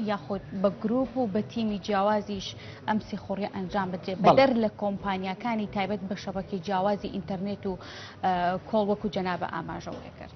یاخود بە گروپ و بە تیمی جیاوازیش ئەم سیخۆڕی ئەنجام بدرێت بەدەر لە کۆمپانیەکانی تایبەت بە شەبەکی جیاوازی ئینتەرنێت و کۆڵ وەکو جەنابە ئاماژەوەێ کرد.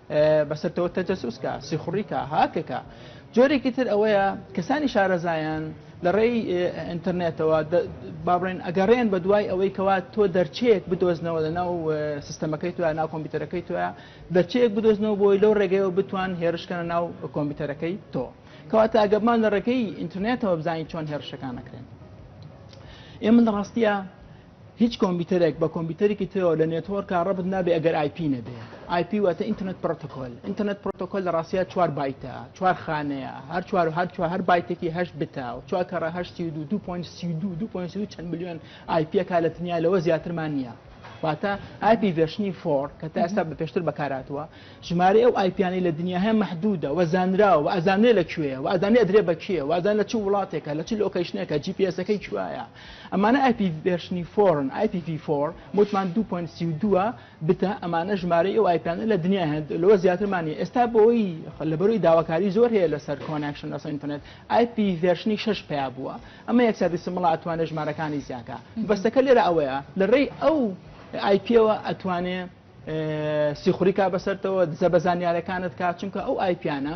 بەسەرتەوە تەجەسوس کا، سیخوڕی کا، هاکە کا. جۆرێکی تر ئەوەیە کەسانی شارەزایان لە ڕێی ئینتەرنێتەوە با بڵێن ئەگەڕێن بە دوای ئەوەی کەوا تۆ دەرچەیەک بدۆزنەوە لە ناو سیستەمەکەی تۆ ناو کۆمپیوتەرەکەی تۆە دەرچەیەک بدۆزنەوە بۆی لەو ڕێگەیەوە بتوان هێرشکەنە ناو کۆمپیوتەرەکەی تۆ کەواتە ئەگەمان لە ڕێگەی ئینتەرنێتەوە بزانین چۆن هێرشەکان نەکرێن ئێ من ڕاستیە هیچ کۆمپیوتەرێک بە کۆمپیوتەرێکی ترەوە لە نێتۆرکە ڕەبت نابێ ئەگەر ئایپی نەبێ ئایپی واتە ئینتەرنێت پرۆتۆکۆل ئینتەرنێت پرۆتۆکۆل لە ڕاستیە چوار بایتە چوار خانەیە هەر چوار و هەر چوار هەر بایتێکی هەشت بتە و چوار کەڕە هەشتی و دوو دوو پۆینت سی و دوو دوو پۆینت سی و چەند ملیۆن ئایپیەکە لە تنیا لەوە زیاترمان نییە واتە ئایپی ڤێرشنی فۆر کە تا ئێستا بە پێشتر بەکاراتوە ژمارەی ئەو ئایپیانەی لە دنیا هەیە مەحدودە و زانراوە و ئەزانرێ لە کوێیە و ئەزانێ ئەدرێ بە کێ وازان لە چ وڵاتێکە لە چ لۆکەیشنێکە جی پی ئێسەکەی کوایە ئەمانە ئای پی ڤێرشنی فۆرن ئای پی ڤی فۆر متمان دوو پۆینت سی و دووە بتە ئەمانە ژمارەی ئەو ئایپیانە لە دنیا هەن لەوە زیاترمانی ئێستا بۆی لەبەروی داواکاری زۆر هەیە لەسەر کۆنەکشن لەسەر ئینتەرنێت ئای پی ڤێرشنی شەش پیا بووە ئەمە یەک سادی سمڵە ئەتوانێت ژمارەکانی زیاکە بەستەکە لێرە ئەوەیە لە ڕێی ئەو ئای پیەوە ئەتوانێت سیخوری کا بەسەرتەوە دزە بە زانیارەکانت کا چونکە ئەو ئای پیانە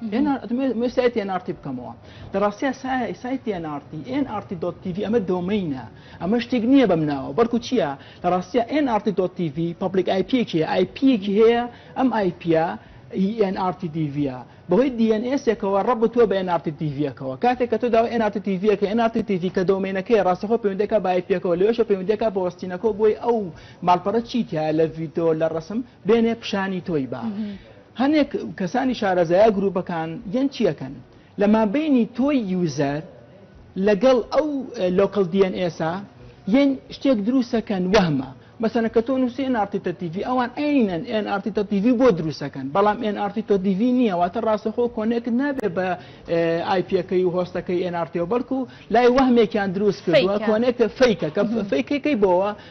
ئەتوانم سایتی ئێن ئاڕ تی بکەمەوە لە ڕاستیا سایتی ئێن ئاڕ تی ئێن ئاڕ تی دۆت تی ڤی ئەمە دۆمەینە ئەمە شتێک نییە بەم ناوە بەڵکو چییە لە ڕاستیا ئێن ئاڕ تی دۆت تی ڤی پەبلیک ئای پییەکی هەیە ئای پییەکی هەیە ئەم ئای پییە ئی ئێن ئاڕ تی دی ڤییە بەهۆی دی ئێن ئێسێکەوە ڕەبتووە بە ئێن ئاڕ تی دی ڤییەکەوە کاتێک کە تۆ داوای ئێن ئاڕ تی دی ڤییەکە ئێن ئاڕ تی دی ڤی کە دۆمەینەکەیە ڕاستەخۆ پەیوەندییەکە بە ئای پییەکەوە لەوێشە پەیوەندییەکە بە وەستینەکەوە بۆی ئەو ماڵپەڕە چی تیایە لە ڤیدیۆ لە ڕەسم بێنێ پیشانی تۆی با هەنێک کەسانی شارەزایە گروپەکان یەن چیەکەن لە مابەینی تۆی یوزەر لەگەڵ ئەو لۆکەڵ دی ئێن ئێسە یەن شتێک دروسەکەن وەهمە مەسەنە کە تۆ نووسی ئێن ئارتی تە تیڤی ئەوان ئەینەن ئێن ئارتی تە تیڤی بۆ دروسەکەن بەڵام ئێن ئارتی تۆ دیڤی نییە واتە ڕاستەخۆ کۆنێکت نابێ بە ئایپیەکەی و هۆستەکەی ئێن ئارتیەوە بەڵکو لای وەهمێکیان دروست کردووە کۆنێکە فیکە کە فیکەکەی بۆوە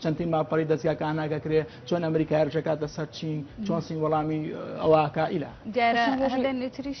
چەند تیم ماڵپەری دەزگا کان ناگەکرێ چۆن ئەمریکا هێرشەکاتە سەر چین چۆن سین وەڵامی ئەوەکە ئیلا دیارە هەندێک نوتریش.